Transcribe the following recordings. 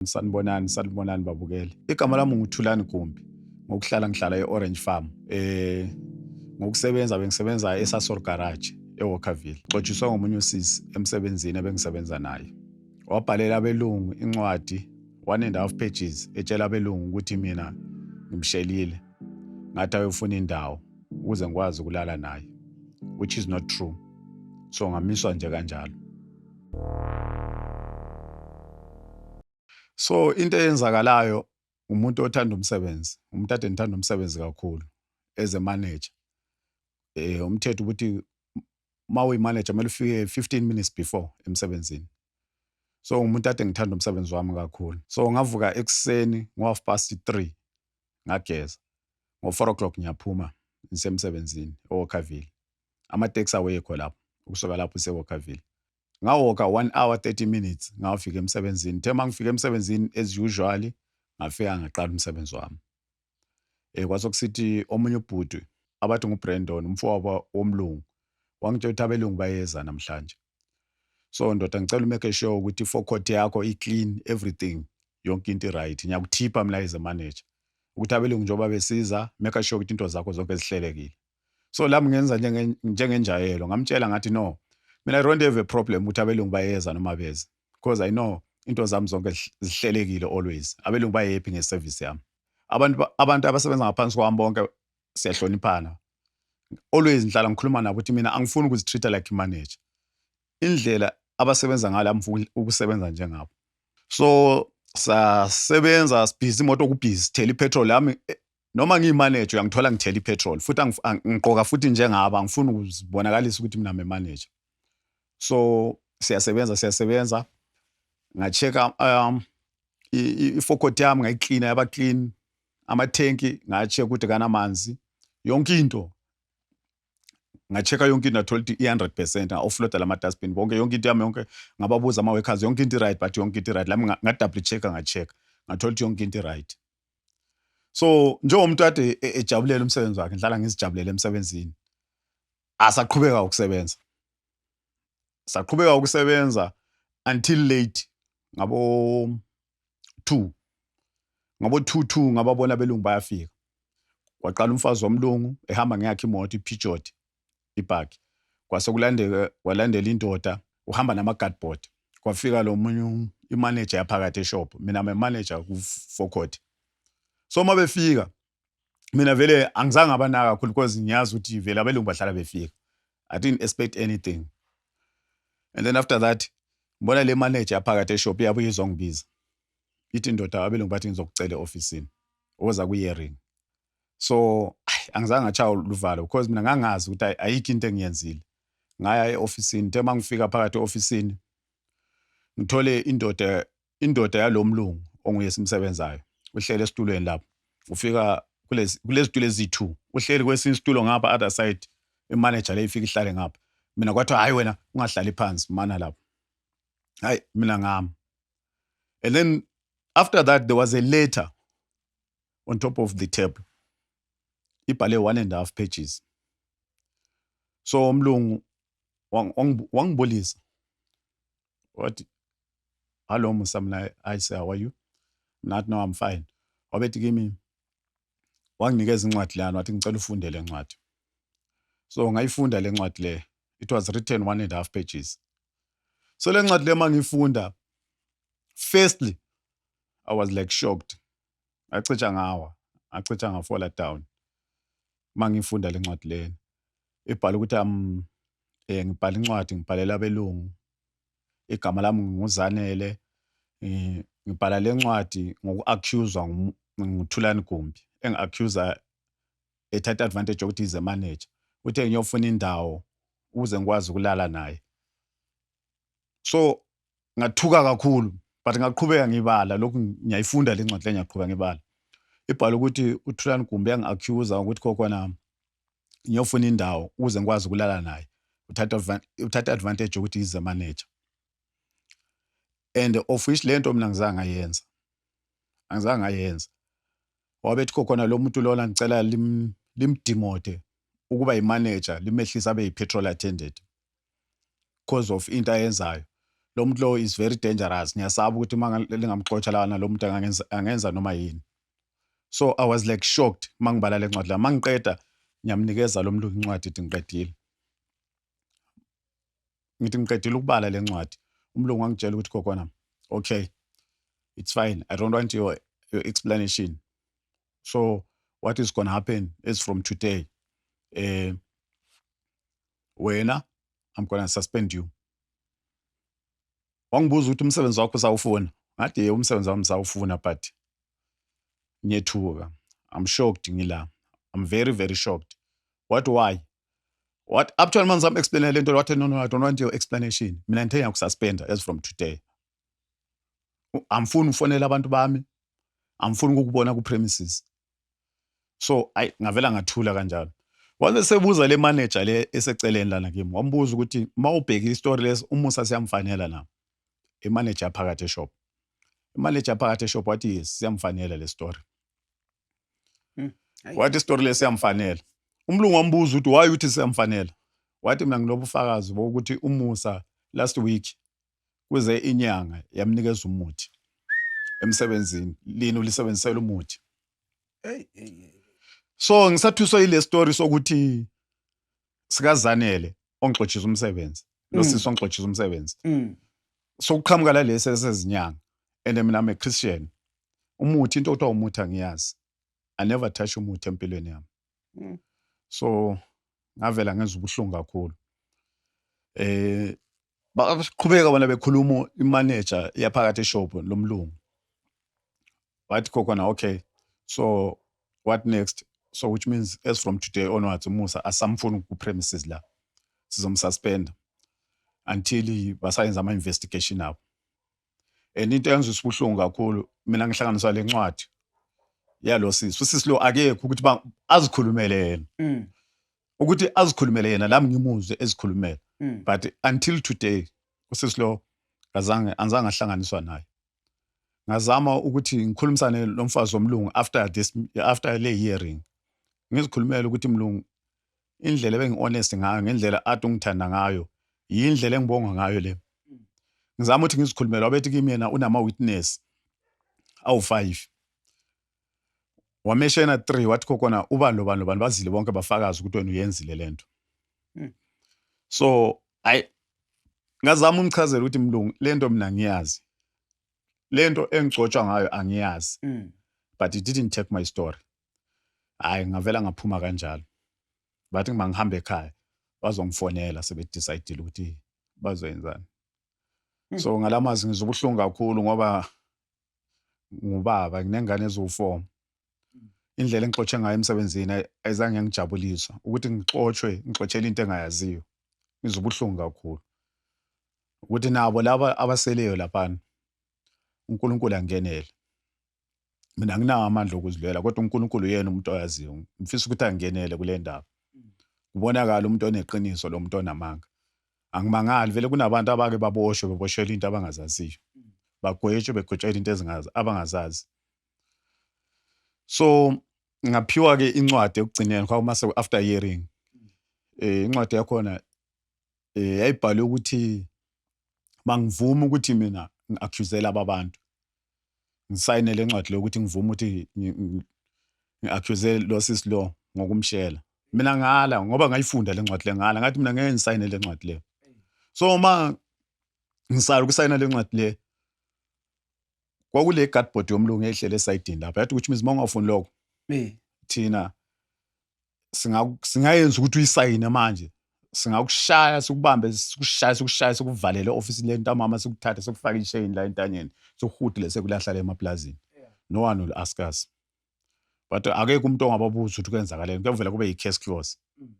Sanibonani, sanibonani babukeli. Igama lami nguThulani Gumbi. Ngokuhlala ngihlala e-Orange Farm. Eh ngokusebenza bengisebenza eSasor Garage eWalkerville. Xotshiswe ngomunye usisi emsebenzini ebengisebenza naye. Wabhalela abelungu incwadi one and half pages etshela abelungu ukuthi mina ngimshelile. Ngathi ayofuna indawo ukuze ngikwazi ukulala naye which is not true. So ngamiswa nje kanjalo. so into eyenzakalayo umuntu othanda umsebenzi umuntu ade ngithanda umsebenzi kakhulu as a manager eh umthetho ukuthi uma uyimanager kumele ufike 15 minutes before emsebenzini so umuntu ade ngithanda umsebenzi wami kakhulu so ngavuka ekuseni ngo-half past 3 ngageza ngo-4 o'clock ngiyaphuma ngisemsebenzini owokhavile amateksi awekho lapho ukusuka lapho usewokaville ngawoka one hour 30 minutes ngawafika emsebenzini the uma ngifika emsebenzini as usually ngafika ngaqala umsebenzi wami um kwasokusithi omunye ubhuti abathi ngubrandon umfowabo womlungu wangitshela ukuthi abelungu bayeza namhlanje so ndoda ngicela umeke sure ukuthi i-forecot yakho i-clean everything yonke into i-right ngiyakuthipha mlayize manager ukuthi abelungu njengoba besiza make sure ukuthi into zakho zonke zihlelekile so lami ngenza njengenjayelo ngamtshela ngathi no mina i don't have a problem ukuthi abelungu bayeza noma beze because i know into zami zonke zihlelekile always abelungu bayephi ngeservice yami abantu abantu abasebenza ngaphansi kwami bonke siyahloniphana always ngihlala ngikhuluma nabo ukuthi mina angifuni ukuzitreat like manager indlela abasebenza ngalo amfuni ukusebenza njengabo so sasebenza sibhizi imoto kubhizi thela ipetrol yami noma ngiyimanager uyangithola ngithela ipetrol futhi ngiqoka futhi njengaba angifuni ukuzibonakalisa ukuthi mina manager so siyasebenza siyasebenza ngacheka um ifokoti yami ngayiklina yaba clean amathenki ngacheka ukuthi kanamanzi yonke into ngacheka yonke into ngathola ukuthi i-hundred percent nga-offloada la ma-dustbin bonke yonke into yami yonke ngababuza ama-workers yonke into i-right but yonke into i-right lami nga-double check-a ngacheka ngathola ukuthi yonke into i-right so njengomuntu ade e, ejabulela umsebenzi wakhe ngihlala ngizijabulele emsebenzini asaqhubeka ukusebenza saqhubeka ukusebenza until late ngabo 2 ngabo 2 2 ngababona belungu bayafika waqala umfazi womlungu ehamba ngeyakhe imoto iPeugeot ibhakhi kwase kulandeka kwalandela indoda uhamba nama guardboard kwafika lo munye um, imanager yaphakathi eshop mina my manager kufokhoti so uma befika mina vele angizange abanaka kakhulu because ngiyazi ukuthi vele abelungu bahlala befika i didn't expect anything and then after that ngibona le manager yaphakathi eshop iyabuye izongibiza ithi ndoda abelungu bathi ngizokucela e-ofisini oza kuye-ring so angizange ngatshaya luvalo because mina ngangazi ukuthi ayikho into engiyenzile ngaya e-ofisini the uma ngifika phakathi e-ofisini ngithole indoda indoda yalo mlungu onguye simsebenzayo uhlele esitulweni lapho ufika kulezi tulo ezi-two uhleli kwesinye isitulo ngapha other side imanager le ifika ihlale ngapha mina kwathiwa hhayi wena ungahlali phansi mana lapho hhayi mina ngami and then after that there was a letter on top of the table ibhale one and half pages so umlungu wangibulisa wathi hallo musa mina i say how are you not no i'm fine wabethi kimi wanginikeza incwadi lana wathi ngicela ufunde le ncwadi so ngayifunda le ncwadi le it was written one and half pages so le ncwadi le uma ngiyifunda firstly i was like shocked acija ngawa acija ngafola down uma ngifunda le ncwadi lena ibhala ukuthi am um, eh, ngibhala incwadi ngibhalela abelungu igama lami nginguzanele ngibhala le ncwadi ngoku-accuswa nguthulani gumbi engi-accusa ethatha advantage yokuthi ize manager uthe ngiyofuna indawo ukuze ngikwazi ukulala naye so ngathuka kakhulu but ngaqhubeka ngibala lokhu ngiyayifunda le ncwadi le ngiyaqhubeka ngibala ibhala ukuthi uthulani gumbi yangi-accusa ukuthi kokwana ngiyofuna indawo ukuze ngikwazi ukulala naye uthatha advantage yokuthi yize manager and of which le nto mina ngizange ngayenza angizange ngayenza wabethi kokhona lo muntu lona ngicela limdimode ukuba yimanager limehlisa abe yi-petrol attendant because of into ayenzayo lo muntu lo is very dangerous ngiyasaba ukuthi uma lingamxotsha lana lo muntu angenza noma yini so i was like shocked uma ngibala le ncwadi la uma ngiqeda ngiyamnikeza lo mlungu incwadi ithi ngiqedile ngithi ngiqedile ukubala le ncwadi umlungu wangitshela ukuthi kokwana okay it's fine i don't want your, your explanation so what is going to happen is from today um wena i'm gonna suspend you wangibuza ukuthi umsebenzi wakho usawufuna ngathi ye umsebenzi wami sawufuna but ngiyethuka i'm shocked ngila i'm very very shocked what why what up to manje zam explain le nto wathi no no i don't want your explanation mina ngithe ngiyakususpenda as from today amfuni ufonela abantu bami amfuni ukukubona ku premises so ayi ngavela ngathula kanjalo waze sebuza le manager le eseceleni lana kimi wambuza ukuthi uma ubheka isitori lesi umusa siyamfanela na imanager yaphakathi eshop imanager yaphakathi eshop wathi yes siyamfanela le story hmm, wathi isitori lesi siyamfanela umlungu wambuza ukuthi why uthi siyamfanela wathi mina nginobufakazi bokuthi umusa last week kuze inyanga yamnikeza umuthi emsebenzini lini ulisebenzisela umuthi so ngisathuswa yile story sokuthi sikazanele ongixotshisa umsebenzi lo mm. sisi ongixotshisa umsebenzi mm. sokuqhamuka lalesi esezinyanga and mina I'm a Christian umuthi into othiwa umuthi angiyazi I never touch umuthi empilweni yami mm. so ngavela ngenza ubuhlungu kakhulu eh baqhubeka bona bekhuluma imanager iyaphakathi eshop lomlungu wathi khona okay so what next so which means as from today onwards umusa asamfuni ku-premises la sizomsuspenda until basayenza ama-investigation abo and into eyenza isibuhlungu kakhulu mina ngihlanganisa le ncwadi yalo sisi usisi lo akekho ukuthi ba azikhulumele yena mm. ukuthi azikhulumele yena lami ngimuzwe ezikhulumela mm. but until today usisi lo ngazange anzange ahlanganiswa naye ngazama ukuthi ngikhulumisane lomfazi womlungu after this after le hearing ngizikhulumela ukuthi mlungu indlela ebengi-honest ngayo ngendlela ade ungithanda ngayo yindlela engibonga ngayo le ngizama ukuthi ngizikhulumele wabethi kimi yena unama-witness awu-five wameshena three wathi khokona ubani lobani lobani bazile bonke bafakazi ukuthi wena uyenzile le nto hmm. so ayi ngazama umchazela ukuthi mlungu le nto mina ngiyazi le nto engigcotshwa ngayo angiyazi hmm. but it didn't take my story hhayi ngavela ngaphuma kanjalo bathi uma ngihamba ekhaya bazongifonela sebedicayidile ukuthi bazoyenzani hmm. so ngala mazwi ngizwa ubuhlungu kakhulu ngoba ngubaba nginengane eziwu-four hmm. indlela engixotshe ngayo emsebenzini ayizange yangijabulisa ukuthi ngixotshwe ngixotshela into engayaziyo ngizwa ubuhlungu kakhulu ukuthi nabo laba abaseleyo laphana uNkulunkulu angenele mina nginawo amandla okuzilwela kodwa uNkulunkulu yena umuntu oyaziyo ngifisa ukuthi angenele kule ndaba kubonakala umuntu oneqiniso lo muntu onamanga angimangali vele kunabantu abake baboshwe beboshelwa into abangazaziyo bagwetshwe begwetshelwa into ezingazi abangazazi so ngaphiwa ke incwadi ekugcineni kwakuma se after hearing eh incwadi yakhona eh yayibhalwe ukuthi bangivuma ukuthi mina ngiaccusela ababantu ngisayine le ncwadi le ukuthi ngivume ukuthi ngi-accuse lo sis lo ngokumshela mina ngala ngoba ngayifunda le ncwadi le ngala ngathi mina ngeke ngisayine le ncwadi le so uma ngisala ukusayina le ncwadi le kwakule guardboard yomlungu ehlele esayidini lapha yathi ukuthi mizi uma ungafuni lokho thina singayenza ukuthi uyisayine manje singakushaya sikubambe sikushaye sikushaye sikuvalele ofisini lentamama sikuthathe sikufake isheyini la entanyeni sikuhudile sekulahlala emaplazini no one will ask us but akekho umuntu ongababuza ukuthi kwenzakaleni kuyavela kube yi-case close mm.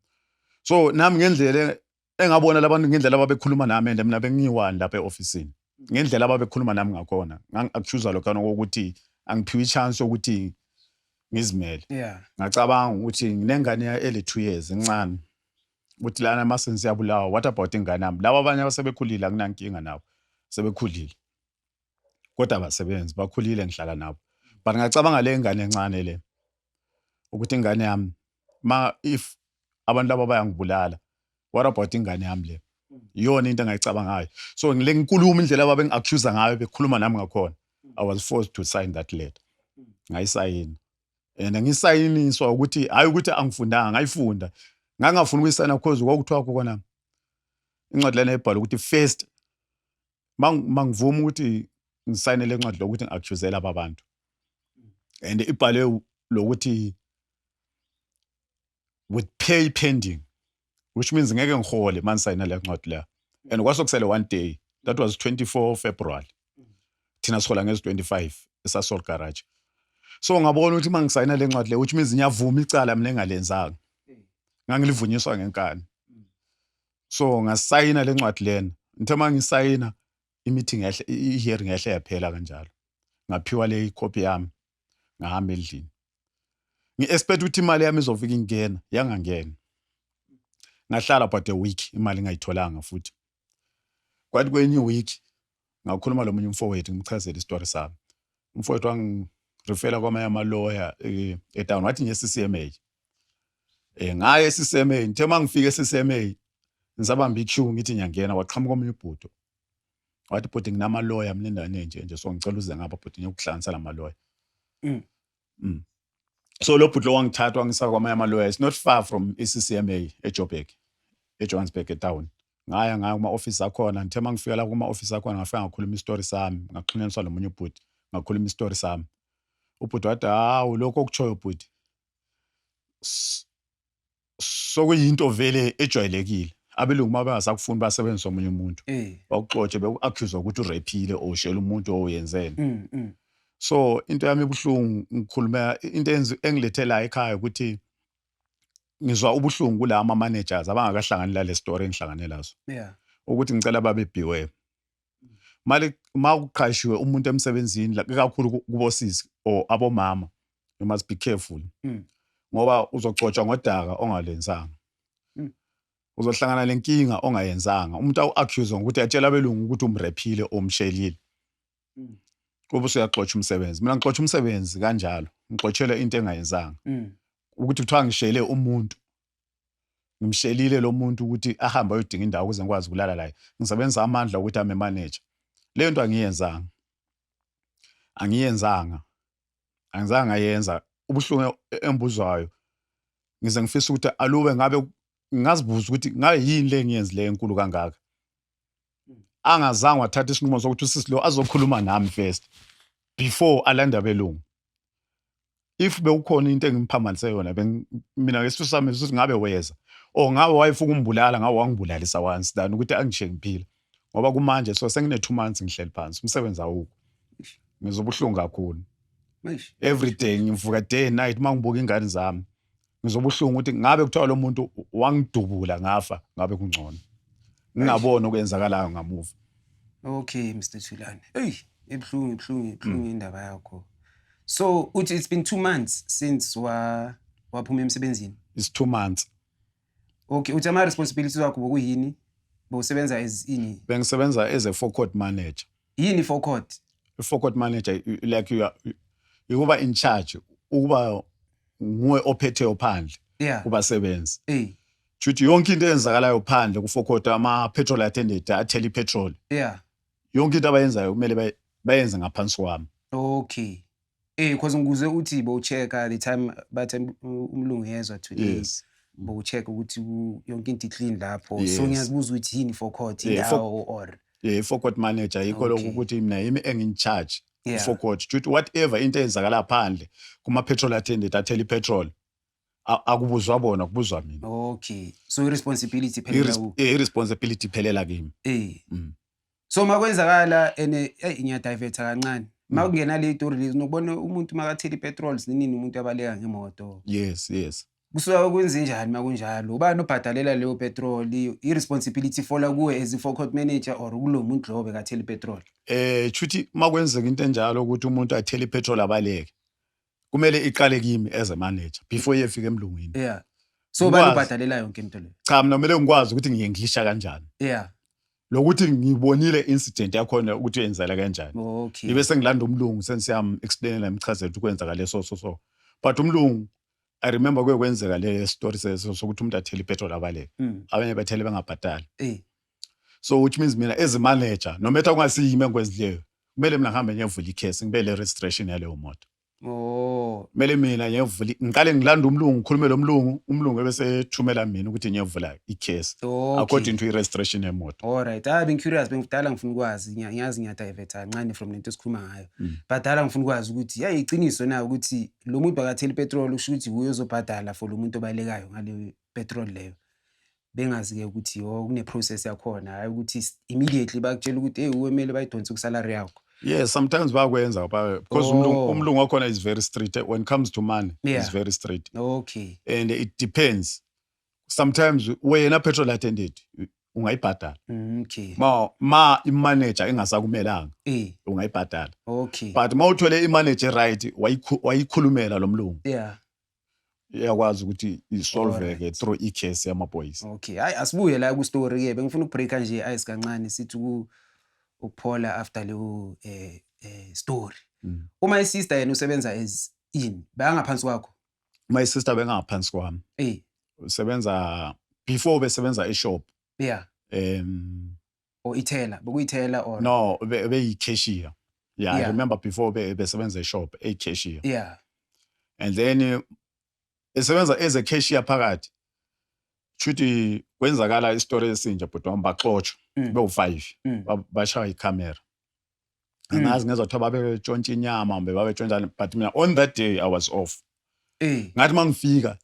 so nami ngendlela engabona labantu ngendlela ababekhuluma nami and mina bengiyiwani lapha e-ofisini ngendlela ababekhuluma nami ngakhona ngangi-accusa lokhana kokuthi angiphiwe i-chance yokuthi ngizimele yeah ngacabanga ukuthi nginengane ya- eli-two years incane ukuthi lana mase siyabulawa what about ingane yami laba abanye abasebekhulile akunankinga nabo sebekhulile kodwa abasebenzi bakhulile ngihlala nabo but ngacabanga le ngane encane le ukuthi ingane yami ma if abantu laba bayangibulala what about ingane yami le iyona into engayicabangayo so ngile nkulumo indlela ababengi-accusa ngayo bekhuluma nami ngakhona i was forced to sign that letter ngayisayina and ngisayiniswa ukuthi hhayi ukuthi angifundanga ngayifunda ngangingafuni ukuyisayina because kwakuthiwa khona incwadi lena ebhala ukuthi first mangivuma ukuthi ngisayine le ncwadi lokuthi ngi-accuse laba bantu and ibhalwe lokuthi with pay pending which means ngeke ngihole uma ngisayina le ncwadi leyo and kwasokusele one day that was 24 february thina sihola ngezi-25 esasol garage so ngabona ukuthi uma ngisayina le ncwadi leyo which means ngiyavuma icala mina engalenzanga ngangilivunyiswa ngenkani so ngasayina le ncwadi lena ngithe uma ngisayina i-meeting yahle i-hearing yahle yaphela kanjalo ngaphiwa le ikhophi yami ngahamba endlini ngi-expect ukuthi imali yami izofika ingena yangangena ngahlala but a week imali ingayitholanga futhi kwathi kwenye iweek ngakhuluma lo munye umfowethu ngimchazela isitori sami umfowethu wangirifela kwamanye amaloya eh, etown wathi nje ccma um eh, ngaye ccma ngithe uma ngifike ccma ngisabamba iq ngithi ngiyangena waqhamuka omunye ubhudo wathi bhuti nginamaloya mina endaweni enje nje so ngicela uze ngapha bhuti ngiyokuhlanganisa la maloya mm. Mm. So lo bhuti lo wangithatha wangisa kwamanye ama-lawyer. It's not far from i-CCMA eJoburg, eJohannesburg etown. Ngaya ngaya kuma-office akhona. Ngithe uma ngifika la kuma-office akhona ngafika ngakhuluma isitori sami. Ngaxhunyaniswa nomunye ubhuti. Ngakhuluma isitori sami. Ubhuti wathi, hawu lokho okutshoyo bhuti. S- sokuyinto vele ejwayelekile abelungu uma bengasakufuni basebenzisa omunye umuntu eh. bakuxotshe beku-accuse ukuthi urephile or ushela umuntu owenzeni mm, mm. so into yami ibuhlungu ngikhulumela into engilethelayo ekhaya ukuthi ngizwa ubuhlungu kula ama-managers abangakahlangani lale story engihlangane lazo ukuthi ngicela babebhiwe mali uma uqashiwe umuntu emsebenzini kakhulu kubosisi or abomama you must be careful mm. ngoba uzogcotshwa ngodaka ongalenzanga mm. uzohlangana lenkinga ongayenzanga umuntu awu-accuse ngokuthi atshela abelungu ukuthi umrephile omshelile mm. kube usuyaxotsha umsebenzi mina ngixotsha umsebenzi kanjalo ngixotshele into engayenzanga mm. ukuthi kuthiwa ngishele umuntu ngimshelile lo muntu ukuthi ahambe ayodinga indawo ukuze ngikwazi ukulala layo ngisebenzisa amandla ukuthi ame manager leyo nto angiyenzanga angiyenzanga angizange ngayenza ubuhlungu embuzwayo ngize ngifisa ukuthi alube ngabe ngazibuza ukuthi ngabe yini le engiyenzileyo enkulu kangaka angazange wathatha isinqumo sokuthi usisi lo azokhuluma nami first before alanda belungu if bewukhona into engimphambanise yona mina ngesifiso sami ukuthi ngabe weza or ngabe wayefuna ukumbulala ngabe wangibulalisa once than ukuthi angishiye ngiphila ngoba kumanje so sengine two months ngihleli phansi umsebenzi awukho ngizobuhlungu kakhulu every day ngivuka day and night uma ngibuka ingane zami ngizobuhlungu ukuthi ngabe kuthiwa lo muntu wangidubula ngafa ngabe kungcono ngingaboni okwenzakalayo ngamuva okay mr thulane eyi ibuhlungu ibuhlungu ibuhlungu indaba yakho so uthi it's been two months since wa waphuma emsebenzini it's two months Okay, uthi ama responsibilities wakho bokuyini? Bowusebenza as ini? Bengisebenza as a forecourt manager. Yini forecourt? I-forecourt manager you- like you are ukuba in charge, ukuba nguwe ophetheyo phandle Yeah. kubasebenzi. Eh. Kushuthi yonke into eyenzakalayo phandle ku-forecourt ama petrol attendant athela i-petrol. Yeah. Yonke into abayenzayo kumele bay- bayenze ngaphansi kwami. Okay. Eh because ngikuze uthi bo check the time bathe umlungu yezwa today. Yes. Bo check ukuthi yonke into clean lapho. So ngiyazibuza ukuthi yini for court indawo or eh for court manager yikho lokho ukuthi mina yimi engin charge for court. Juthi whatever into eyenzakala phandle kuma petrol attendant athela ipetrol. A- akubuzwa bona kubuzwa mina okay so i-responsibility phela Iris- ku- eh, i-responsibility iphelela kimi eh Mm. so makwenzakala ene eyi ngiyadivetha kancane Mm. makungena le story lezi nokubona umuntu makathela ipetrol sinini umuntu abaleka ngemoto yes yes kusuka kwenzenjani makunjalo ubani obhadalela leyo petrol i-responsibility ifola kuwe as i-forecot manager or kulo muntu lowo bekathela ipetrol eh chuthi makwenzeka into enjalo ukuthi umuntu athele ipetrol abaleke kumele iqale kimi as a manager before yefika emlungwini yeah so bayibhadalela yonke into le cha mina kumele ngikwazi ukuthi ngiyenglisha kanjani yeah lokuthi ngibonile incident yakhona ukuthi yenzela kanjani okay ibe sengilanda umlungu sensiyam explainela imchazela ukuthi kwenzeka leso so so but umlungu I remember kuye kwenzeka le story sokuthi umuntu athele ipetrol abaleke mm. abanye bathele bengabhatali eh. so which means mina as a manager no matter kungasiyimi engikwenzileyo kumele mina ngihambe ngiyevula ikhesi ngibe le registration yaleyo moto Oh. Kumele mina ngiyevula ngiqale ngilanda umlungu ngikhulume lo mlungu umlungu ebesethumela mina ukuthi ngiyevula i-case okay. according to i-registration yemoto. All right. Ah being curious bengidala ngifuna ukwazi ngiyazi ngiyadivert kancane from lento esikhuluma ngayo. Mm. Badala ngifuna ukwazi ukuthi yayi iqiniso na ukuthi lo muntu bakatheli petrol usho ukuthi wuye ozobhadala for lo muntu obalekayo ngale petrol leyo. bengazi-ke ukuthi yo oh, kune-process yakhona hhayi ukuthi immediately bakutshela ukuthi eyi kumele bayidonse kusalary yakho yes sometimes bayakwenza because oh. umlungu wakhona is very straight when it comes to money yeah. is very straight okay and it depends sometimes wena petrol attendant ungayibhadala mm, okay ma ma imanager ingasakumelanga eh ungayibhadala okay but mawuthole imanager right wayikhulumela lomlungu yeah iyakwazi ukuthi isolveke through i-case yamaphoyisa okay hayi asibuye la kwistory ke bengifuna ukubreaka nje ice kancane sithi ku ukuphola after leyo eh, eh story mm. uma isister yena usebenza as in bangaphansi kwakho my sister bengaphansi kwami eh usebenza before besebenza eshop yeah um or ithela bokuyithela or no be- beyicashier yeah, i Yeah. remember before be- besebenza eshop eyicashier yeah and then eh, esebenza as a cashier phakathi shuthi kwenzakala isitori esinje bhuti wami baxotshwa Mm. bewu-five Mm. ba- bashaya ikhamera Mm. angazi ngezwa kuthiwa babetshontsha inyama kumbe babetshontshani but mina on that day i was off Eh, ngathi uma ngifika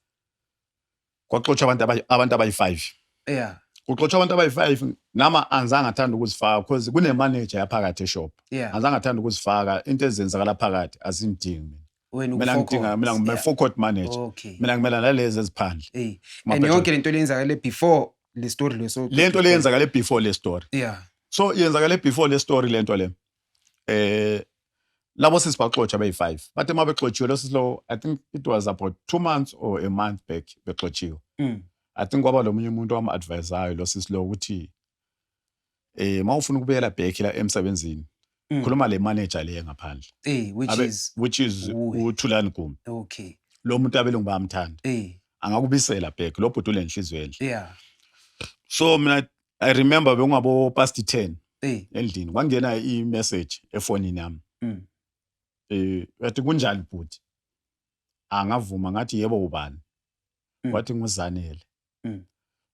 kwaxotshwa abantu abayi- abantu abayi-five yeah, kuxotshwa abantu abayi-five nama angizange athanda ukuzifaka because kunemanager yaphakathi eshop yeah. angizange athanda ukuzifaka into ezenzakala phakathi azingidingi mina wena mina ngidinga mina ngime four court manager okay mina ngimela nalezi eziphandle eh and yonke lento leyenzakale before le story leso lento leyenzakale before le story yeah so yenzakale before le story lento le eh labo sisi baxotsha beyi-5 bathe uma bexotshiwe lo sisi lowo i think it was about two months or a month back bexotshiwe mm. i think kwaba lo munye umuntu owam-advisayo lo sisi lowo ukuthi eh mawufuna ukubuyela back la emsebenzini Mm. khuluma le manager le ngaphandle Eh, which Abe- is which is Uwe. uthulani gumi okay. lo muntu abelungu bayamthanda Eh, angakubisela back lo bhuti ulenhliziyo enhle yeah. so mina i remember bekungabo past 10 Eh, endlini kwangena i message efonini yami mm. eh yathi kunjani bhuti angavuma ngathi yebo ubani Mm. wathi nguzanele Mm.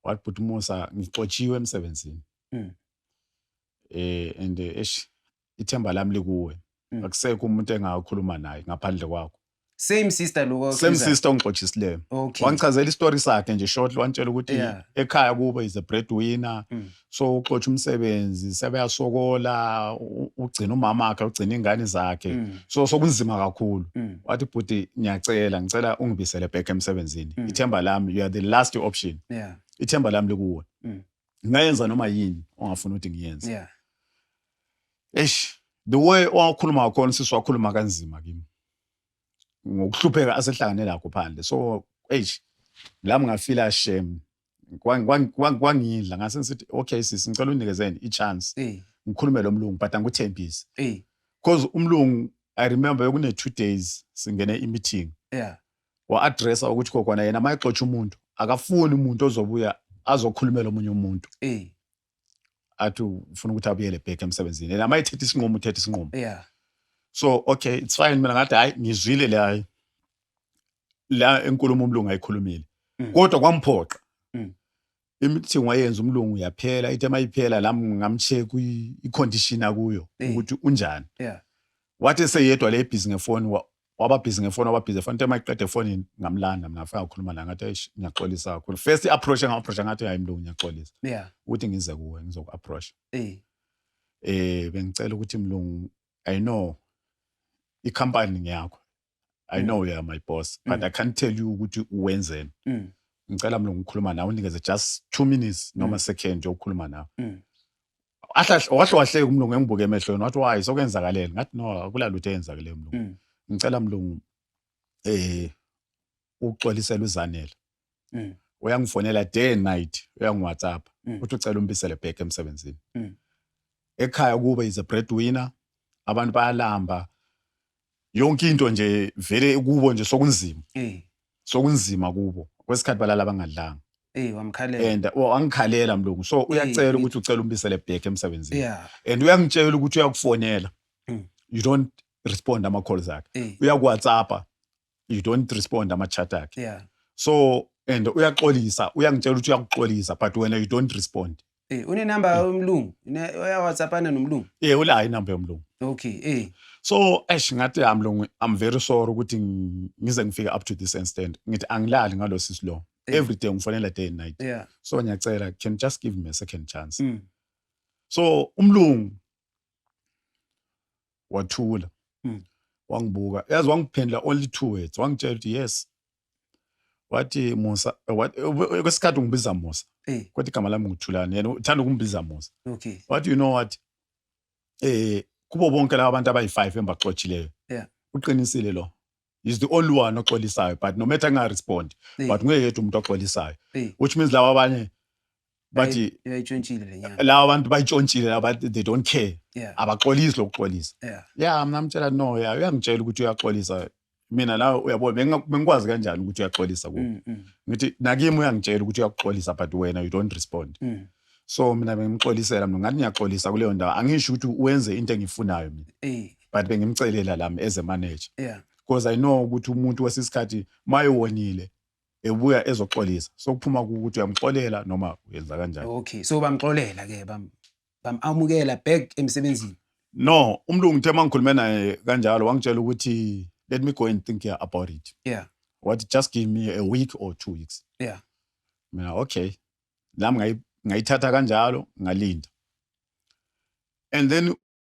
wathi bhuti musa ngixotshiwe emsebenzini Mm. eh and eh, eish ithemba lami likuwe Mm. akusekho umuntu engakhuluma naye ngaphandle kwakho same sister lo same okhizana. sister ongixotshisileyo okay wangichazela istory sakhe nje shortly wangitshela ukuthi Yeah. ekhaya kubo is a breadwinner Mm. so uxotsha umsebenzi sebeyasokola ugcina umama wakhe ugcina ingane zakhe mm. so sokunzima kakhulu mm. wathi bhuti ngiyacela ngicela ungibisele back emsebenzini mm. ithemba lami you are the last option yeah. ithemba lami likuwe mm. ngayenza noma yini ongafuna ukuthi ngiyenze yeah. eish the way owakhuluma ngakhona sisi wakhuluma kanzima kimi ngokuhlupheka asehlangane lakho phandle so eish lami ngafila shame kwangidla ngase ngisithi okay sisi ngicela unikezeni i-chance eh. ngikhulume lo mlungu but angikuthembisi eh. cause umlungu i remember bekune two days singene i-meeting yeah. wa-adressa ukuthi kokwana yena uma exotsha umuntu akafuni umuntu ozobuya azokhulumela omunye umuntu eh. athi ufuna ukuthi abuyele back emsebenzini and amayithethe isinqumo uthethe isinqumo yeah so okay it's fine mina ngathi hayi ngizwile le hayi la enkulumo umlungu ayikhulumile mm. kodwa kwamphoqa mm. imithi wayenza umlungu yaphela ithe mayiphela la ngamcheck i-condition akuyo ukuthi unjani yeah wathi eseyedwa le busy ngefoni wababhizi ngefoni wababhizi efoni tema iqeda efonini ngamlanda mina ngafika ngakhuluma naye ngathi eish ngiyaxolisa kakhulu first i-approach enga-approacha ngathi hayi mlungu ngiyaxolisa yeah ukuthi ngize kuwe ngizoku-approacha eh eh bengicela ukuthi mlungu i know i-company ngiyakho i know you are my boss but i can't tell you ukuthi uwenzeni mm. ngicela mlungu ngikhuluma nawe unikeze just two minutes noma second yokukhuluma nawe Mm. ahlahle wahle wahleka umlungu engibuke emehlweni wathi why sokwenzakalele ngathi no akulalutho eyenzakele mlungu mm. ngicela mlungu eh uxolisela uzanele mm. uyangifonela day and night uyangiwhatsapp mm. uthi ucela umbisele back emsebenzini mm. ekhaya kube is a breadwinner abantu bayalamba yonke into nje vele kubo nje sokunzima eh sokunzima kubo kwesikhathi balala bangadlanga eh wamkhalela and oh, angikhalela mlungu so uyacela ukuthi ucela umbisele back emsebenzini yeah and uyangitshela ukuthi uyakufonela Mm. you don't respond ama calls akhe eh uyakuwhatsappa you don't respond ama chat akhe yeah so and uyaxolisa uyangitshela ukuthi uyakuxolisa but wena you don't respond Eh une number yomlungu, une oya WhatsApp ana nomlungu. Eh ula inamba yomlungu. Okay, eh. So ash ngathi I'm long I'm very sorry ukuthi ngize ngifike up to this extent. Ngithi angilali ngalo sisi lo. Eh. Every day ngifonela day and night. Yeah. So ngiyacela can just give me a second chance. Mm. So umlungu wathula. Mm. Wangibuka. Yazi wangiphendula only two words. Wangitshela ukuthi yes. wathi musa kwesikhathi ungibiza musa eh. kodwa igama lami nguthulani yena uthanda ukungibiza musa okay. wathi you know what eh kubo bonke laba bantu abayi-five engibaxotshileyo yeah. uqinisile lo is the only one oxolisayo but no matter ngingarespondi yeah. but nguye yedwa umuntu oxolisayo yeah. which means laba abanye bathi yayitshontshile lenyanga lawa abantu bayitshontshile laba they don't care yeah abaxolisi lokuxolisa yeah yeah mina mtshela no yeah uyangitshela ukuthi uyaxolisa mina la uyabona bengikwazi kanjani ukuthi uyaxolisa ku mm, mm. ngithi nakimi uyangitshela ukuthi uyakuxolisa but wena you don't respond mm. so mina bengimxolisela mina ngathi ngiyaxolisa kuleyo ndawo angisho ukuthi wenze into engifunayo mina eh. but bengimcelela lami as a manager yeah because i know ukuthi umuntu wesisikhathi mayewonile ebuya ezoxolisa sokuphuma ukuthi uyamxolela noma uyenza kanjani okay so bamxolela ke bam bamamukela back emsebenzini no umlungu uthe mangikhulume naye kanjalo wangitshela ukuthi let me go and think here about it yeah wathi just give me a week or two weeks yeah mina okay nami ngayithatha kanjalo ngalinda and then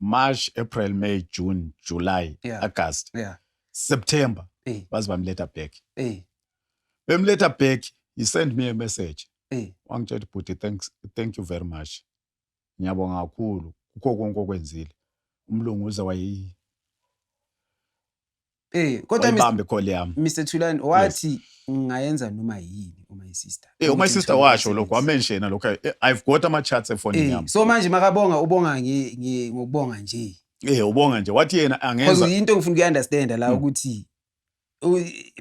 March, April, May, June, July, yeah. August. Yeah. September. Hey. Baze bamletha back. Hey. Bemletha back, he sent me a message. Hey. Wangitshela bhuti thanks thank you very much. Ngiyabonga kakhulu kukho konke okwenzile. Umlungu uze wayi Eh kodwa wayibambe call yami Mr Thulani wathi ngayenza noma yini uma isister eh uma isister washo lokho wamenshena lokho eh, i've got ama chats efonini eh, yami so manje makabonga ubonga ngi ngokubonga nje eh ubonga nje wathi yena angenza because into ngifuna uku understand la hmm. ukuthi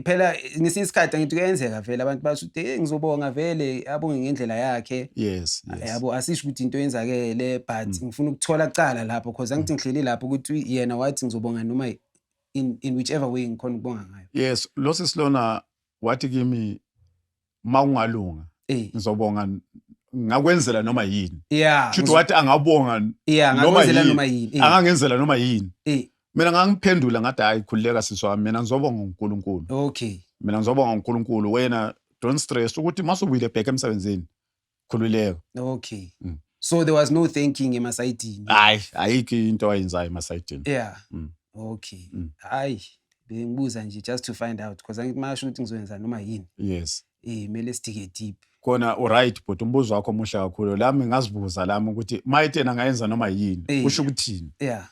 phela ngesinye isikhathi angithi kuyenzeka vele abantu basho ukuthi hey ngizobonga vele abonge ngendlela yakhe yes yabo asisho ukuthi into yenzakele but mm. ngifuna ukuthola kucala lapho because angithi mm. ngihleli lapho ukuthi yena wathi ngizobonga noma in, in whichever way ngikhona ukubonga ngayo yes lo sisi lona wathi kimi ma ungalunga Eh. ngizobonga ngakwenzela noma yini yeah shuthi wathi angabonga yeah noma ngakwenzela yini. noma yini Eh, angangenzela noma yini eh, mina ngangiphendula ngathi hayi khululeka sisi wami mina ngizobonga unkulunkulu okay mina ngizobonga unkulunkulu wena don't stress ukuthi masubuyile back emsebenzini khululeka okay mm. so there was no thanking emasayidini hayi ayikho into ayenzayo emasayidini yeah mm. okay mm. hayi bengibuza nje just to find out because angithi mayasho ukuthi ngizoyenza noma yini yes eh mele sidike deep kona uright but umbuzo wakho omuhle kakhulu lami ngazibuza lami ukuthi mayitena ngayenza noma yini kusho ukuthini yeah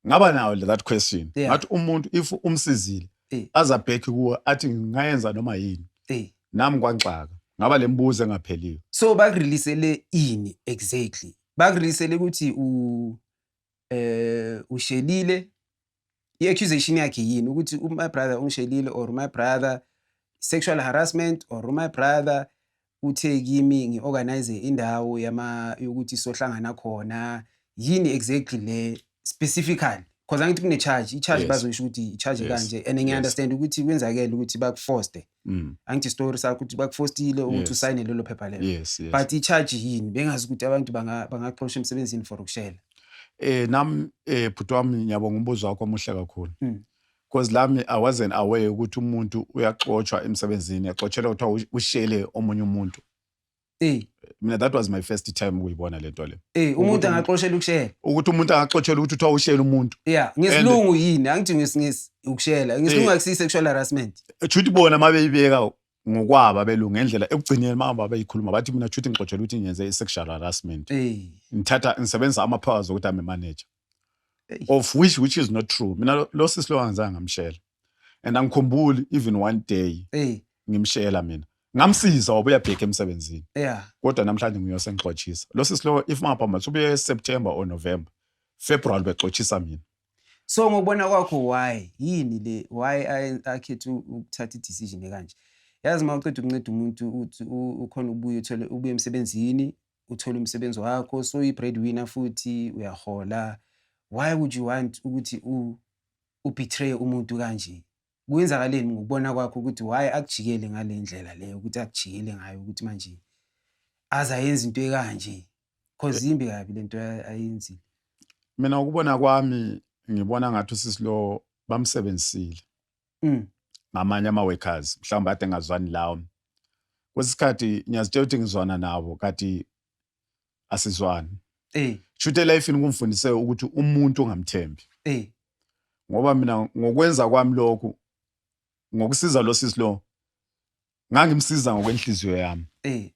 ngaba nayo that question yeah. ngathi umuntu if umsizile hey. azabhekhi kuwe athi ngingayenza noma yini hey. nami kwanxaka ngaba le mbuzo engapheliyo so bakureleasele ini exactly bakureleasele ukuthi u eh ushelile i-accusation yakhe yini ukuthi my brother ungishelile or my brother sexual harassment or my brother uthe kimi ngi-organize indawo yama yokuthi sohlangana khona yini exactly le specifically because angithi kune-charge i-charge Yes. bazoyisho ukuthi i-charge Yes. kanje and Yes. ngiya-understand ukuthi kwenzakele ukuthi bakufoste Mm. angithi isitori sakho ukuthi bakufostile ukuthi Yes. usayine lelo phepha lelo yes yes but i-charge yini bengazi ukuthi abantu banga- bangaxosha emsebenzini for ukushela eh nam eh bhuti wami ngiyabonga umbuzo wakho omuhle kakhulu Mm. Cause lami I wasn't aware ukuthi umuntu uyaxotshwa emsebenzini yaxotshelwa kuthiwa ushele omunye umuntu. Eh. Mina that was my first time ukuyibona lento le. Eh umuntu angaxoshela ukushela. Ukuthi umuntu angaxoshela ukuthi uthiwa ushela umuntu. Yeah, ngesilungu yini? Angithi ngesingisi ukushela. Ngesilungu eh. akusi sexual harassment. Chuthi bona mabeyibeka ngokwaba belungu ngendlela ekugcineni mama bayikhuluma bathi mina chuthi ngixoshela ukuthi ngenze i sexual harassment. Eh. Ngithatha ngisebenzisa ama powers ukuthi ame manager. of which which is not true mina lo- lo sisi lo angizange ngamshela and angikhumbuli even one day Hey, ngimshela mina ngamsiza wabuya bheka emsebenzini yeah. kodwa namhlanje nguye osengixotshisa lo sisi lo if mangaphambi athi ubuye september or november february bexotshisa mina So ngokubona kwakho why yini le why aye- akhethe u- ukuthatha i-decision ekanje? Yazi uma uqeda ukunceda umuntu uthi u- ukhona ubuye uthole ubuye emsebenzini uthole umsebenzi wakho so i-bread winner futhi uyahola why would you want ukuthi ubetray umuntu kanje kwenzakaleni ngokubona kwakho ukuthi why akujikele ngale ndlela leyo ukuthi akujikele ngayo ukuthi manje aze ayenze into ekanje cause eh. imbi kabi lento ayenzile mina ukubona kwami ngibona ngathi usisi lo bamsebenzisile mm. ngamanye ama-workers mhlawumbe ade ngazwani lawo kwesinye isikhathi ngiyazitshela ukuthi ngizwana nawo kati asizwani eh. shuthi elifini kungifundise ukuthi umuntu ungamthembi eh. ngoba mina ngokwenza kwami lokhu ngokusiza lo sisi lo ngangimsiza ngokwenhliziyo yami eh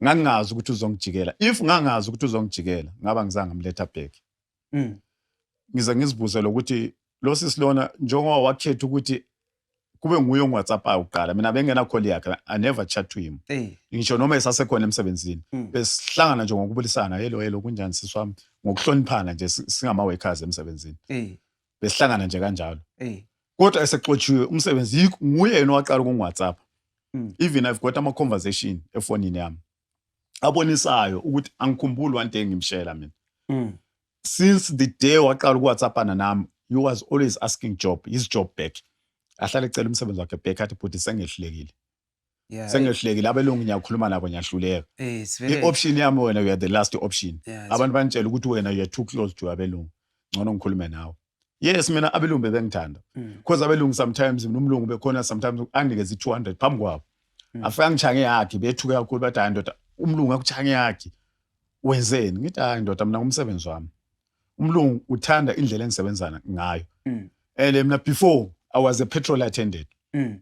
ngangazi ukuthi uzongijikela if ngangazi ukuthi uzongijikela ngaba ngizange amletha back mm. ngize ngizibuze lokuthi lo sisi lona njengoba wakhetha ukuthi kube nguye ongiwhatsappayo kuqala mina bengenacall yakhe i never chat to him eh. ngisho noma esasekhona emsebenzini mm. besihlangana nje ngokubulisana helo helo kunjani sisi wami ngokuhloniphana nje singama-workers emsebenzini eh. besihlangana nje kanjalo eh kodwa esexotshiwe umsebenzi yikho- nguye yena owaqala kungu-whatsapp Mm. even i've got ama-conversation efonini yami abonisayo ukuthi angikhumbuli one day ngimshela mina mm. since the day waqala ukuwhatsappana nami he was always asking job his job back ahlale ecela umsebenzi wakhe back athi bhuti sengehlulekile Yeah, sengehlekile abelungu ngiyakhuluma nabo ngiyahluleka eh, it's very i-option yami wena you are the last option yeah, it's- abantu bangitshela ukuthi wena you are too close to abelungu ngcono ngikhulume nawe yes mina abelungu bebengithanda Mm. because abelungu sometimes mina umlungu bekhona sometimes anginikeza i-200 phambi kwabo Mm. afike angitshange yakhe bethuke kakhulu bathi hayi ndoda umlungu akutshange yakhe wenzeni ngithi hayi ndoda mina ngumsebenzi wami umlungu uthanda indlela engisebenzana ngayo Mm. and mina before i was a petrol attendant Mm.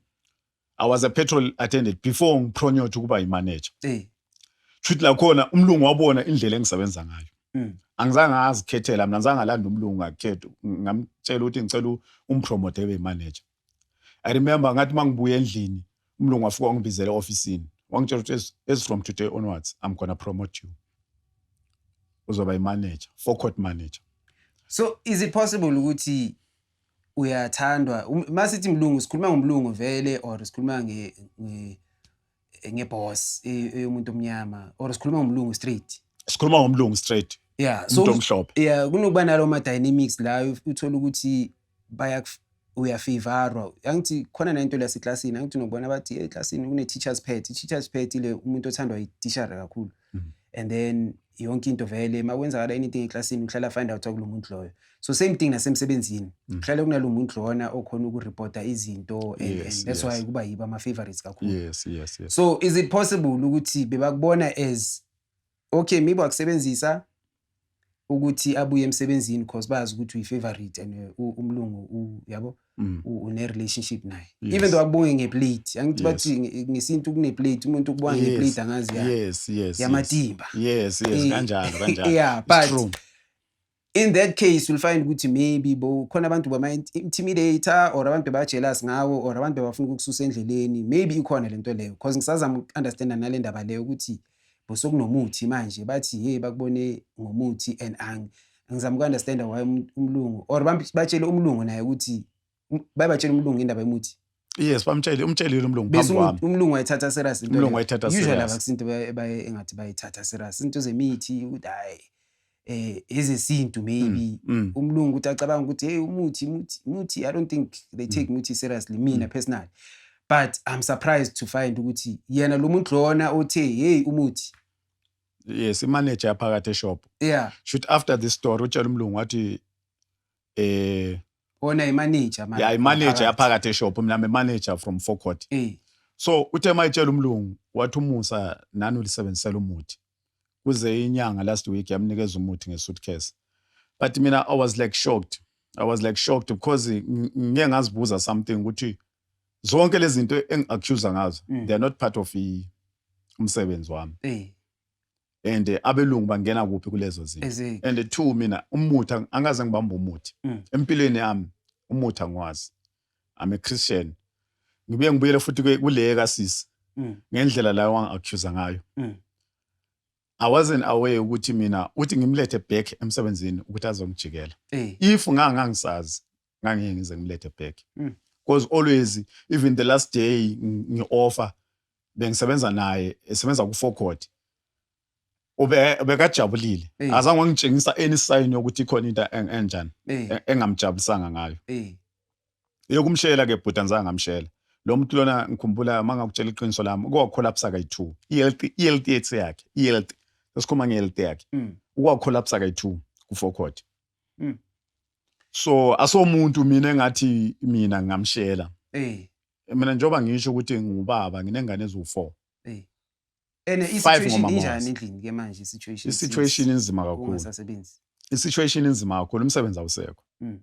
I was a petrol attendant before ngipronyothe ukuba yimanager. Eh. Shuthi la khona umlungu wabona indlela engisebenza ngayo. Mm. Angizange azikhethela mina ngizange alanda umlungu ngakhetha ngamtshela ukuthi ngicela umpromote ebe manager. I remember ngathi mangibuya endlini umlungu wafika wangibizela office wangitshela ukuthi as from today onwards I'm going to promote you. Uzoba imanager, forecourt manager. So is it possible ukuthi uyathandwa um, uma sithi mlungu sikhuluma ngomlungu vele or sikhuluma nge ngeboss eyomuntu omnyama or sikhuluma ngomlungu straight sikhuluma ngomlungu straight yeah so omhlophe yeah kunokuba nalo ma dynamics la uthola ukuthi baya uyafavorwa angithi khona nento la seclassini angithi nokubona bathi eclassini kune teachers pet i teachers pet ile umuntu othandwa i teacher kakhulu mm. and then yonke into vele makwenzakala anything eclassini uhlala find out kulo muntu loyo so same thing nasemsebenzini mm. uhlale kunalo muntu lona okhona ukureporta izinto and, yes, and that's yes. why kuba yiba ama-favorites kakhulu yes, yes, yes. so is it possible ukuthi bebakubona as okay maybe wakusebenzisa ukuthi abuye emsebenzini because bazi ukuthi uyi favorite and uh, umlungu yabo mm. une relationship naye yes. even though akubonge nge plate angithi yes. bathi ngesintu kune plate umuntu ukubonga yes. nge plate angazi ya yes yes yamatimba yes yes eh, kanjalo kanjalo yeah but true. in that case you'll find ukuthi maybe bo khona abantu bama intimidator or abantu ba jealous ngawo or abantu bafuna ukukususa endleleni maybe ikhona lento leyo because ngisazama understand nalendaba leyo ukuthi bosekunomuthi manje bathi hey bakubone ngomuthi and ang ngizama uku-understanda why um, umlungu or batshele umlungu naye ukuthi um, bayebatshela umlungu indaba yomuthi yes bamtshele umtshelile umlungu phambi um, kwami umlungu wayithatha serious umlungu wayithatha serious usually abakusinto baye engathi bayithatha serious into zemithi ukuthi hayi eh ezesintu maybe mm, mm. umlungu uthi acabanga ukuthi hey umuthi muthi muthi i don't think they take muthi mm. seriously mina mm. personally but i'm surprised to find ukuthi yena lo muntu lona othe hey umuthi yes imanager yaphakathi eshop yeah shoot after this story utshela umlungu wathi eh ona imanager manje yeah imanager yaphakathi eshop mina me manager from forecourt eh so uthe mayitshela umlungu wathi umusa nani ulisebenzisela umuthi kuze inyanga last week yamnikeza umuthi ngesuitcase but mina i was like shocked i was like shocked because ngike ngazibuza something ukuthi zonke lezi zinto engi-accusa ngazo mm. they are not part of umsebenzi wami eh. and eh, abelungu bangena kuphi kulezo zinto and two mina umuthi angikaze ngibamba umuthi mm. empilweni yami umuthi angiwazi I'm a Christian ngibuye ngibuyele futhi kule kasisi mm. ngendlela la wangi-accusa ngayo mm. I wasn't aware ukuthi mina uthi ngimlethe back emsebenzini ukuthi azongijikela eh. if ngangangisazi ngangeke ngize ngimlethe back mm. because always even the last day ngi-offer bengisebenza naye esebenza ku-four court ube bekajabulile Eh. azange wangitshengisa any sign yokuthi ikhona into en- enjani Eh, e- engamjabulisanga ngayo eh, yokumshela ke bhuti anzange ngamshela lo muntu lona ngikhumbula uma ngakutshela iqiniso lami ukwakholapsa kayi-two i-health i-health yethu yakhe i-health sesikhuluma nge-health yakhe mm, ukwakholapsa kayi-two kufokhoti Mm. so asomuntu mina engathi mina ngingamshela eh, mina njengoba ngisho ukuthi ngubaba nginengane eziwu-four eh, And Five i-situation ngomama injani was. endlini ke manje i-situation I-situation since inzima kakhulu. ungasasebenzi. I-situation inzima kakhulu, umsebenzi awusekho. Mm.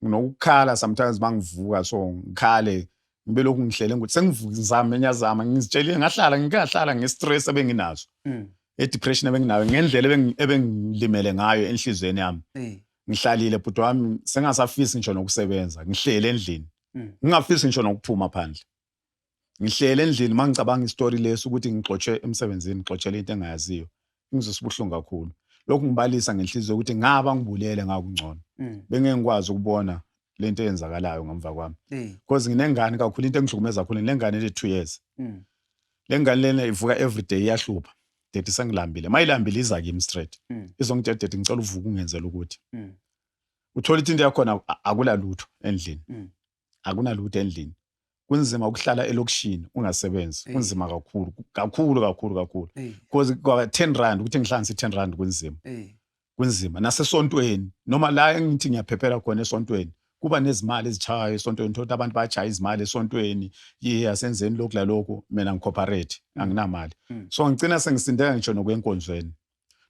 Nginokukhala sometimes uma ngivuka so ngikhale ngibe lokhu ngihlele ngokuthi sengivuka ngizame ngiyazama ngizitshelile ngahlala ngikahlala nge-stress ebenginazo Mm. e-depression ebenginayo ngendlela ebengi- ebengilimele ngayo enhliziyweni yami Eh. ngihlalile bhuti wami sengasafisi ngisho nokusebenza ngihlele endlini Mm. ngingafisi ngisho nokuphuma phandle ngihlele endlini uma ngicabanga isitori lesi ukuthi ngixotshwe emsebenzini ngixotshele into engayaziyo ngizwisa ubuhlungu kakhulu lokhu ngibalisa ngenhliziyo ukuthi ngaba ngibulele ngakungcono mm. bengeke ngikwazi ukubona le nto eyenzakalayo ngemva kwami because mm. nginengane kakhulu into engihlukumeza kakhulu nginengane ene two years mm. le ngane lena ivuka everyday iyahlupha dade sengilambile uma ilambile iza kimi straight izongitshela dade ngicela uvuka ungenzela ukuthi uthole into yakhona akula lutho endlini akunalutho endlini kunzima ukuhlala elokishini ungasebenzi hey. kunzima kakhulu kakhulu kakhulu kakhulu because hey. kwa 10 rand ukuthi ngihlanganise 10 rand kunzima hey. kunzima nasesontweni noma la engithi ngiyaphephela khona esontweni kuba nezimali ezichayo esontweni thola abantu bajaya izimali esontweni yiya senzeni lokhu lalokhu mina ngicooperate mm. anginamali mm. so ngicina sengisindeka ngisho nokwenkonzweni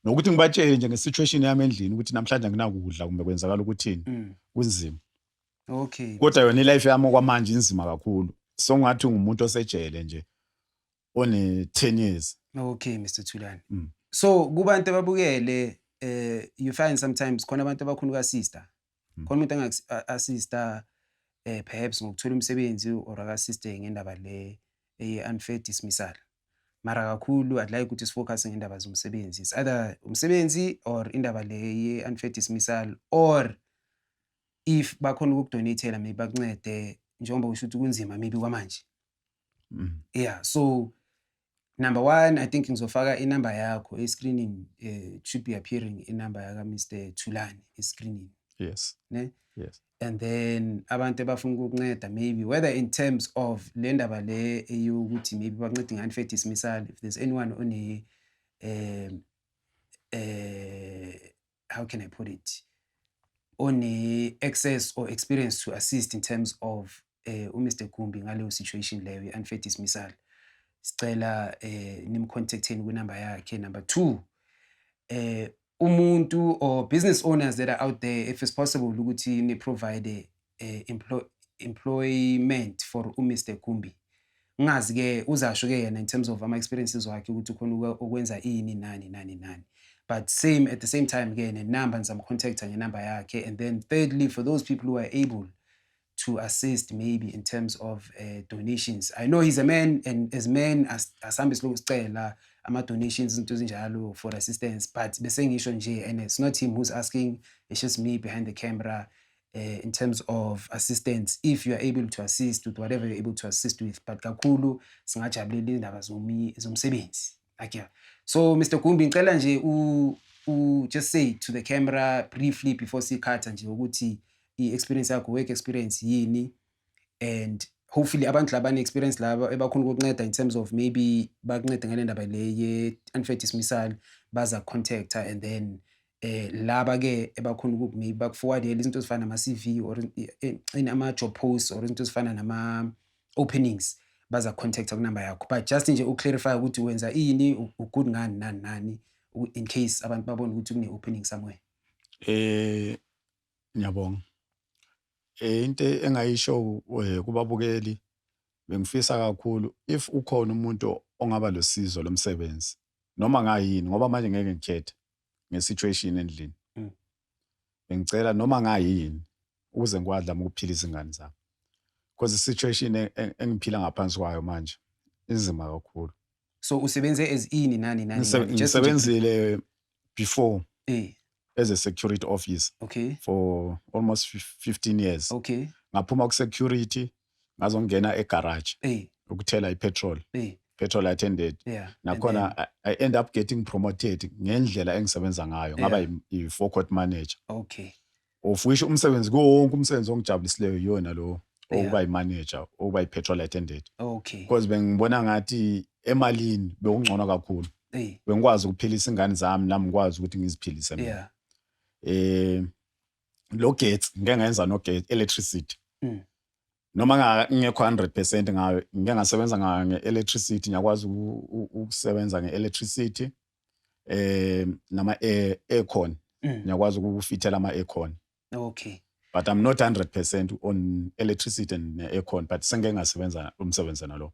nokuthi ngibatshele nje ngesituation yami endlini ukuthi namhlanje anginakudla kumbe kwenzakala ukuthini mm. kunzima okay kodwa yona ilife yami okwamanje inzima kakhulu so ngathi ungumuntu osejele nje one 10 years okay Mr Thulani mm. so kubantu ababukele eh you find sometimes khona abantu abakhulu ka sister mm. khona umuntu angaku assista eh perhaps ngokuthola umsebenzi or aka sister ngendaba le eye unfair dismissal mara kakhulu i'd like ukuthi sifocus ngendaba zomsebenzi it's either umsebenzi or indaba le ye unfair dismissal or if bakhona ukukudonatela maybe bakuncede njengoba usho ukuthi kunzima maybe kwamanje mm. yeah so number one i think ngizofaka inumber yakho escreening um eh, should be appearing inumber yaka mr thulani escreening yes ne yes and then abantu abafuna ukukunceda maybe whether in terms of le ndaba le eyokuthi maybe bakuncede ngani fe dismissal if there's anyone one um um how can i put it one-access or experience to assist in terms of um uh, umr gumbi ngaleyo situation leyo i-unfair dismissal sicela um uh, nimcontacteni kwinumber yakhe number two um umuntu or business owners that are out there if it's possible ukuthi niprovide eh, employ, employment for uMr Gumbi ngazi ke uzasho ke yena in terms of ama experiences wakhe ukuthi ukhona ukwenza ini nani nani nani but same at the same time ke nenumber ngizamcontacta ngenumber yakhe and then thirdly for those people who are able to assist maybe in terms of uh, donations i know he's a man and as men asihambe siloku sicela ama-donations izinto ezinjalo for assistance but bese ngisho nje and it's not him who's asking it's just me behind the camera uh, in terms of assistance if you are able to assist with whatever you're able to assist with but kakhulu singajabulela indaba zomsebenzi like yeah. so mr gumbi ngicela nje u, u just say to the camera briefly before sikhatha nje ukuthi i-experience yakho work experience yini and hopefully abantu labane experience laba ebakhona ukukunceda in terms of maybe bakuncede ngale ndaba le ye-unfair dismissal baza contacta and then eh laba ke ebakhona ukuthi maybe bakuforwardele izinto ezifana nama CV or eh, in ama job posts or izinto ezifana nama openings baza contact kunamba yakho but just nje uclarify ukuthi wenza ini ugood ngani nani nani in case abantu babona ukuthi kune opening somewhere eh ngiyabonga eh into engayisho eh, kubabukeli bengifisa kakhulu if ukhona umuntu ongaba losizo lomsebenzi noma ngayini ngoba manje ngeke ngikhethe nge-situation endlini mm. bengicela noma ngayini ukuze ngikwazi lami ukuphila izingane zami because i-situation e, e, engiphila ngaphansi kwayo manje inzima kakhulu so usebenze as ini nani nani ngisebenzile before eh. as a security office okay. for almost 15 years okay. ngaphuma ku-security ngazongena egarage eh. ukuthela ipetrol eh. petrol attended yeah. nakhona then, I, I end up getting promoted ngendlela engisebenza ngayo yeah. ngaba i-forecourt manager okay of which umsebenzi kuwo wonke umsebenzi ongijabulisileyo yona lo okuba yi-manager okuba yi-petrol attended okay because bengibona ngathi emalini bekungcono kakhulu hey. bengikwazi ukuphilisa ingane zami nami ngikwazi ukuthi ngiziphilise mina yeah. eh lo gate ngeke ngayenza no gate electricity mm. noma ngingekho 100% ngayo ngeke ngasebenza ngayo ngeelectricity ngiyakwazi ukusebenza ngeelectricity eh nama aircon mm. ngiyakwazi ukufithela ama aircon okay but i'm not 100% on electricity and aircon but sengeke ngasebenza umsebenzi nalo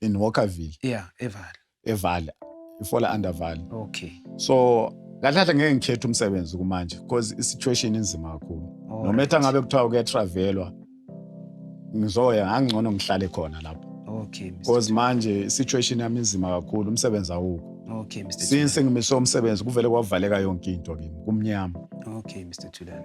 in Walkerville. Yeah, eVale. eVale. Ifola under Vale. Okay. So kahle kahle ngeke ngikhethe umsebenzi kumanje because i-situation inzima kakhulu. All Noma ethi right. angabe kuthiwa kuyatravelwa ngizoya ngangcono ngihlale khona lapho. Okay, Mr. Because manje i-situation yami inzima kakhulu umsebenzi awukho. Okay, Mr. Since ngimiswe umsebenzi kuvele kwavaleka yonke into kimi kumnyama. Thulani. Okay, Mr. Thulani.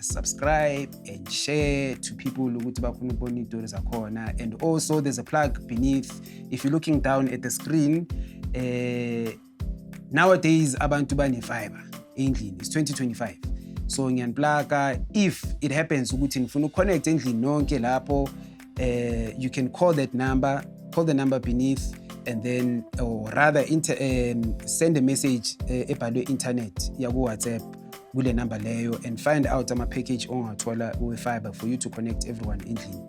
subscribe and share to people ukuthi bafuna ukubona iy'tori zakhona and also there's a plug beneath if you're looking down at the screen uh, nowadays abantu bane-fiber endlini it's 2025 so ngiyaniplaka if it happens ukuthi nifuna ukuconnect endlini nonke lapho uh, you can call that number, call the number beneath, and then, or rather, inter, um, send a message uh, ebhalwe internet yaku-WhatsApp kule number leyo and find out ama-package ongawathola kuwe-fiber for you to connect everyone endlini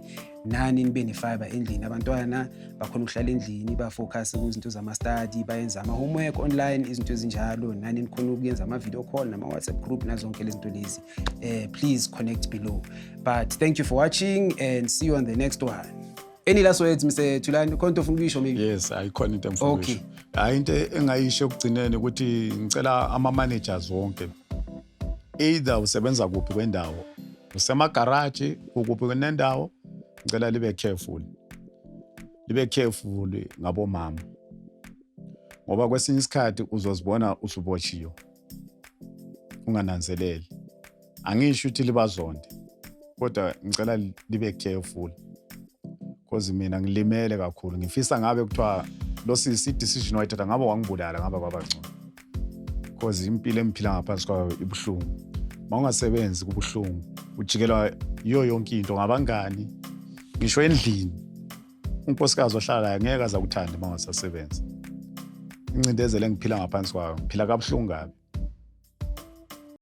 nani nibe ne-fiber endlini abantwana bakhona ukuhlala endlini bafocus kuzinto zama-study bayenza ama-homework online izinto ezinjalo nani nikhona ukuyenza ama-video call nama-whatsapp group nazonke lezi zinto lezi uh, please connect below but thank you for watching and see you on the next one any last words mr thulani khona into ofuna ukuyisho maybe yes ayikhona into engifuna okay. ukuyisho hayi into engayisho ekugcineni ukuthi ngicela ama-managers wonke either usebenza kuphi kwendawo usemagaraji ukuphi kwenendawo ngicela libe careful libe careful ngabomama ngoba kwesinye isikhathi uzozibona usuboshiwe ungananzeleli angisho ukuthi libazonde kodwa ngicela libe careful cause mina ngilimele kakhulu ngifisa ngabe kuthiwa lo sisi i-decision wayithatha ngabe wangibulala ngabe kwabangcono cause impilo engiphila ngaphansi kwayo ibuhlungu ma ungasebenzi kubuhlungu ujikelwa yiyo yonke into ngabangani ngisho endlini unkosikazi ohlala layo ngeke aza kuthande uma ungasasebenzi incindezelo engiphila ngaphansi kwayo ngiphila kabuhlungu kabi